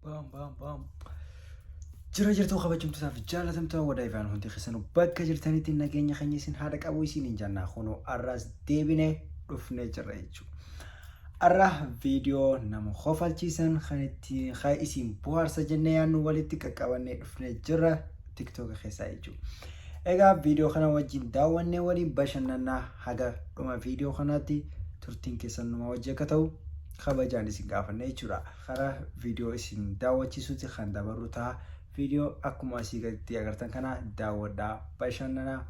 Baam baam baam. Jira jirtuu kabajamtootaaf jaalatamtoota wadaayifaan hundi keessanuu bakka jirtanitti nageenya keenya isin haadha qabu isiniin jannaa kunoo arraas deebinee dhufnee jirra jechuudha. Ar'a video nama kofalchiisan kan itti kan isin bohaarsa jennee yaannu walitti qaqqabannee dhufne jirra tiktoka keessaa jechuudha. Egaa video kana wajjin daawwannee waliin bashannannaa haga dhuma video kanaatti turtiin keessan numa wajji akka ta'u kabajaan isin gaafanne jechuudha. Karaa video isin daawwachiisutti kan dabarru ta'a. Video akkuma asii gaditti agartan kana daawwadhaa bashannanaa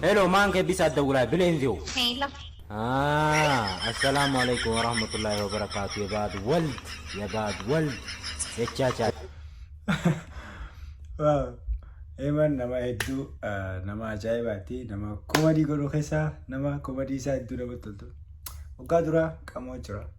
Hello, maan kee bisaa dawulaa bileen view. Hello. Ah, assalamu alaikum warahmatullahi wabarakatuh. Ya baad wald, ya baad wald. Jechaa chaa. Waaw. Eeman nama hedduu ah, nama ajaa'ibaati. Nama komadii godhu keessaa nama komadii isaa hedduu namatti toltu. Waggaa duraa qamoo jira.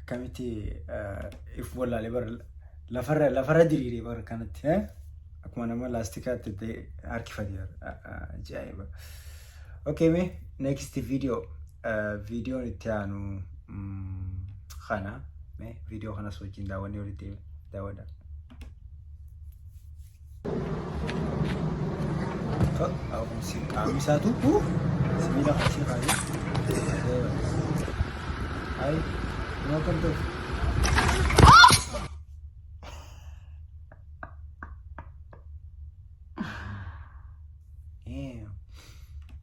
akkamitti if wallaalee bar lafarra lafarra diriiree bar kanatti eh? akkuma nama laastikaatti itti harkifate ajaa'iba. Okay mee next video videoon itti aanu mm, kana mee video kanas wajjin daawwannee walitti daawwadha. Qaamni isaa tuqu sibiila asii kaayee. Ayi, noo kan ta'u.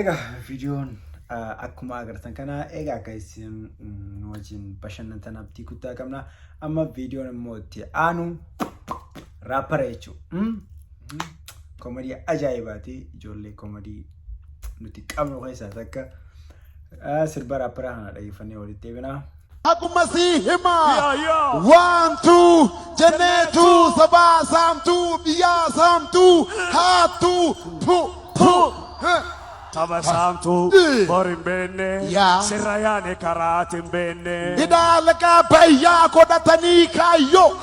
Egaa viidiyoon akkuma agartan kana egaa akka isin nu wajjin bashannantan abdii guddaa qabna. Amma viidiyoon immoo itti aanu raappara jechuudha. Komadii ajaa'ibaati ijoollee komadii nuti qabnu keessaa takka. Ah, Sirba raapparaa kana dhageeffannee walitti deebinaa. Haquma sii hima waantu jenneetu sabaa saamtu biyyaa saamtu haattu pu pu Taba saamtu bor hin beenne Yaa. sirra yaane karaati hin beenne. Hidhaa laqaa bayyaa godhatanii kaayyoo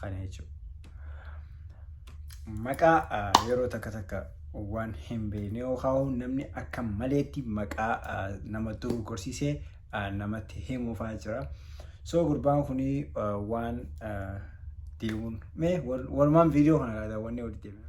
Kana jechuudha. Maqaa ah, yeroo takka takka waan hin beekne yoo kaa'u namni akka maleetti maqaa ah, nama dogoggorsiisee ah, namatti himuufaa jira. So gurbaan kun waan ah, deemuun mee wal- walumaan viidiyoo kana kaa daawwannee walitti deemna.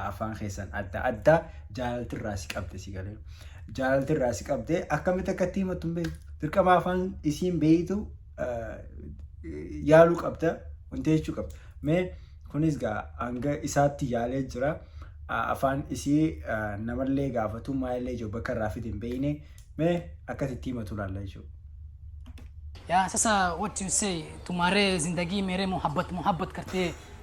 afaan keessan adda adda jaalalti irraa si qabde si galee jaalalti irraa si qabde akkamitti akka itti himattu hin beektu dirqama afaan isiin beeytu yaaluu qabda wanti jechuu qabda mee kunis gaa hanga isaatti yaalee jira afaan isii namallee gaafatu maalillee jiru bakka irraa fide hin beeyne mee akkatti itti himatu laalla jechuudha. Ya, sasa what you say, tumare zindagi mere muhabbat muhabbat karte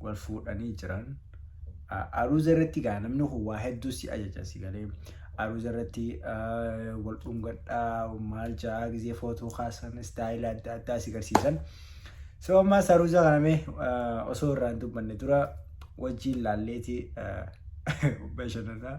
wal fuudhanii jiran aruuza irratti gaa namni kun waa hedduu si ajaja si galee aruuza irratti wal dhungadhaa maal ja'a gizee footoo kaasan istaayila adda addaa si garsiisan. So ammaas aruuza kana mee osoo irraa hin dubbanne dura wajjiin laalleeti bashannanaa.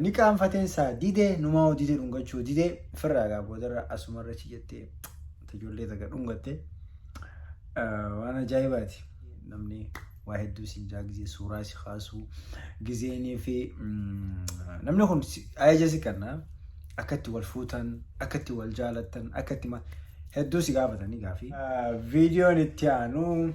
ni qaanfateen saa didee numaa hojii jedhu dhungachuu didee firraa gaa boodarra asumarra chi jettee ijoollee taga dhungatte waan ajaa'ibaati namni waa hedduu isin jaa gizee suuraa si kaasu gizeenii fi namni kun ajaja si kenna akka itti wal fuutan akka itti wal jaalattan akka itti hedduu si gaafatanii gaafii. Viidiyoon itti aanu.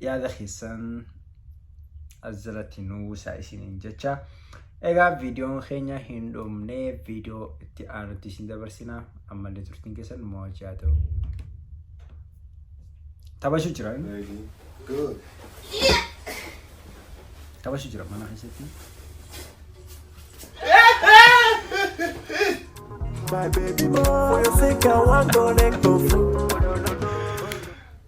yaada keessan as jalatti nu buusaa isiniin jecha. Egaa viidiyoon keenya hin dhumne viidiyoo itti aanutti isin dabarsina. Ammallee turtiin keessan nu wajjin haa ta'u. Taphachuu jiran. Taphachuu jiran mana keessatti. My baby boy, for your sake I want connect to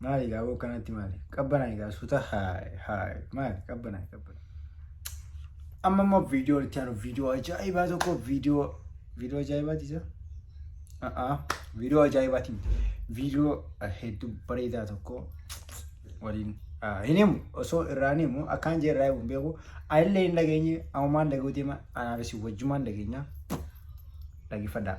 Maali gaa boo kanatti maali? Qabbana egaa suuta haay haay maali qabbana qabbana. Amma immoo viidiyoo itti aanu viidiyoo ajaa'ibaa tokko viidiyoo viidiyoo ajaa'ibaati isa. A'a viidiyoo ajaa'ibaati miti. Viidiyoo hedduu bareedaa tokko waliin hin himu osoo irraa hin himu akkaan jee irraa himu hin beeku. Anillee hin dhageenye amumaan dhaguu deema anaafis wajjumaan dhageenya. Dhaggeeffadhaa.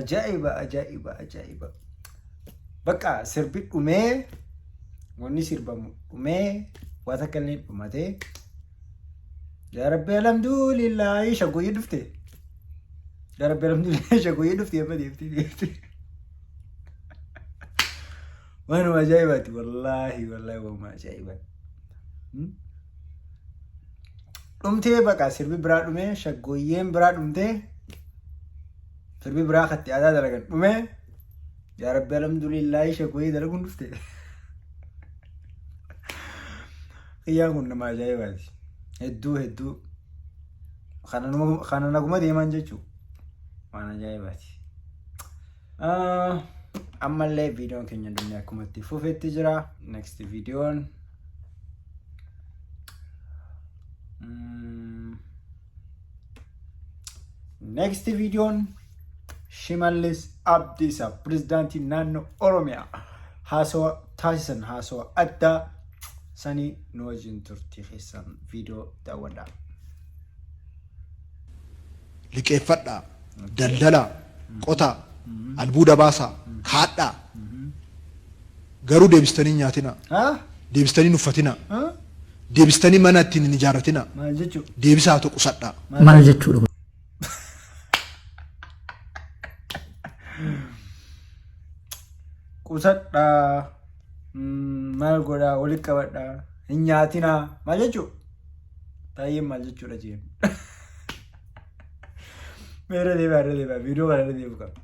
Ajaa'iba ajaa'iba ajaa'iba. Bakka sirbi dhumee wanni sirbamu dhumee waa takka illee dhumatee. Yaa Rabbi alhamdulillahi shaggooyyee dhufte. Yaa Rabbi alhamdulillahi shaggooyyee dhufte amma deemtee deemtee. Waanuma ajaa'ibaati wallaahi wallaahi waanuma ajaa'ibaati. Hmm? Dhumtee baqa sirbi biraa dhumee shaggooyyeen biraa dhumtee sirbi biraa katti aadaa dalagan dhumee yaa rabbi alhamdulillahi shaggooyyee dalaguun dhufte. Xiyyaan kun nama ajaa'ibaati. Hedduu hedduu kana naguma deemaan jechuun waan ajaa'ibaati. ammallee viidiyoon keenya dunnee akkuma itti fufetti jira next viidiyoon next viidiyoon shimallis abdiisa pirezidaantii naannoo oromiyaa haasawa taasisan haasawa addaa sanii nu wajjin turtii keessan viidiyoo daawwadhaa. liqeeffadhaa, daldalaa, qotaa, albuuda baasaa, kaadhaa. Garuu deebistanii hin nyaatinaa. Haa? Deebistanii hin uffatinaa. Haa? Deebistanii mana ittiin hin ijaarratinaa. Maal jechuu? Deebisaa haa ta'u qusadhaa. Maal jechuudha kun? Qusadhaa. Mm, Maal godhaa? Walitti qabadhaa. Hin nyaatinaa. Maal jechuu? Taayyeen maal jechuudha jeen. Meerra deemaa irra deemaa viidiyoo kana irra deemu qaba.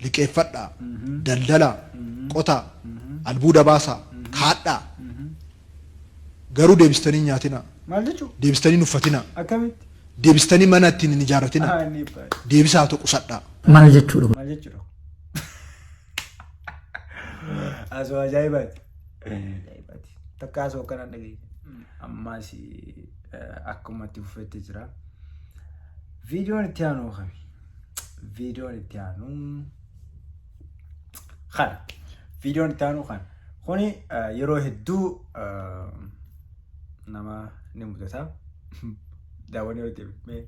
liqeeffadhaa, daldalaa, qotaa, albuuda baasaa, kaadhaa. Garuu deebistanii hin nyaatinaa, Maal jechuudha? deebistanii hin uffatinaa, Akkamitti? deebistanii mana ittiin hin ijaarratinaa, Ah, inni baay'ee. deebisaa haa ta'u qusadhaa. Maal jechuudha kun? Maal jechuudha? Asoo ajaa'ibaati. Ajaa'ibaati. Takka asoo akkanaan dhageenya. Ammaas akkuma itti fufetti jira. Viidiyoon itti aanu kami? Viidiyoon itti aanu kana. Viidiyoon itti aanu kana. Kuni yeroo hedduu nama ni mudata. Daawwanii yoo deebi'e.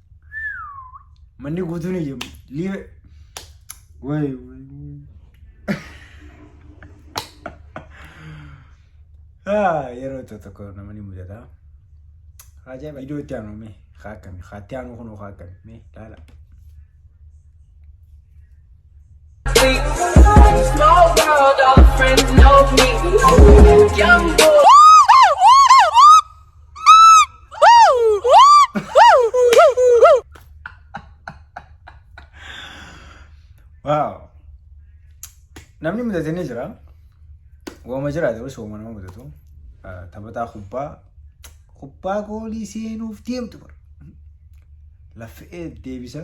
Manni guutuun iyyamu. Liive. Wayi wayi. Haa yeroo tokko tokko namni mudata. Ajaa'iba iddoo itti aanu mee haa akkami haa itti aanu kunoo haa akkami mee laala. Waaw. Namni mudate ni jira. Waama jira ta'us waama nama mudatu. Ah, Taphataa kubbaa kubbaa goolii seenuuf deemtu bara. Laffee deebisa.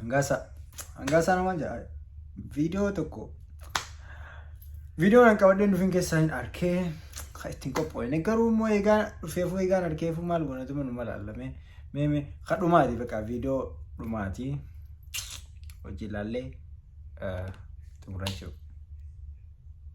Hangaasaa. Hangaasaa namaan jedha. Viidiyoo tokko. Viidiyoon an qabadheen dhufin keessaa hin arkee. Ka ittiin qophoofne garuu immoo eegaa dhufeefuu eegaan arkeefuu maal goonatu manu malaallamee. Mee mee ka dhumaati bakka viidiyoo dhumaati. Hojii ilaallee xumurachuu.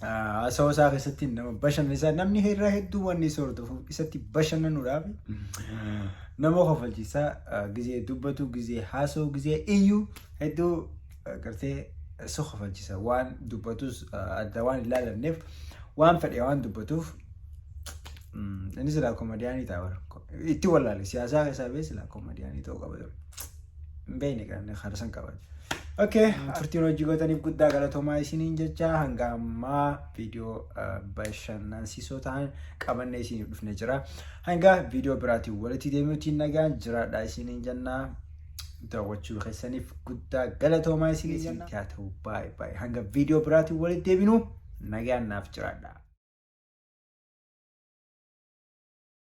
haasawaa isaa keessatti nama bashannansiisa. Namni irraa hedduu wanni isa hordofuuf isatti bashannanuudhaaf nama kofalchiisa. Gizee dubbatu, gizee haasa'u, gizee iyyu hedduu gartee si kofalchiisa. Waan dubbatus adda waan hin laalanneef waan fedhe waan dubbatuuf inni silaa komadiyaanii ta'a bara. Itti wallaale siyaasaa keessaa bee silaa koomadiyaanii ta'uu qaba ture. Hin beekne kan harsan qaba. Okay, turtiin hojii gootaniif guddaa galatoomaa isiniin jecha hanga ammaa viidiyoo eh, bashannansiisoo ta'an qabannee isiniif dhufne jira. Hanga viidiyoo biraatiin walitti deemuutiin nagaan jiraadhaa isiniin jennaa. daawwachuu keessaniif guddaa galatoomaa isinii jenna. Haa ta'u baay'ee baay'ee hanga viidiyoo biraatiin walitti deebinu nagaan naaf jiraadha.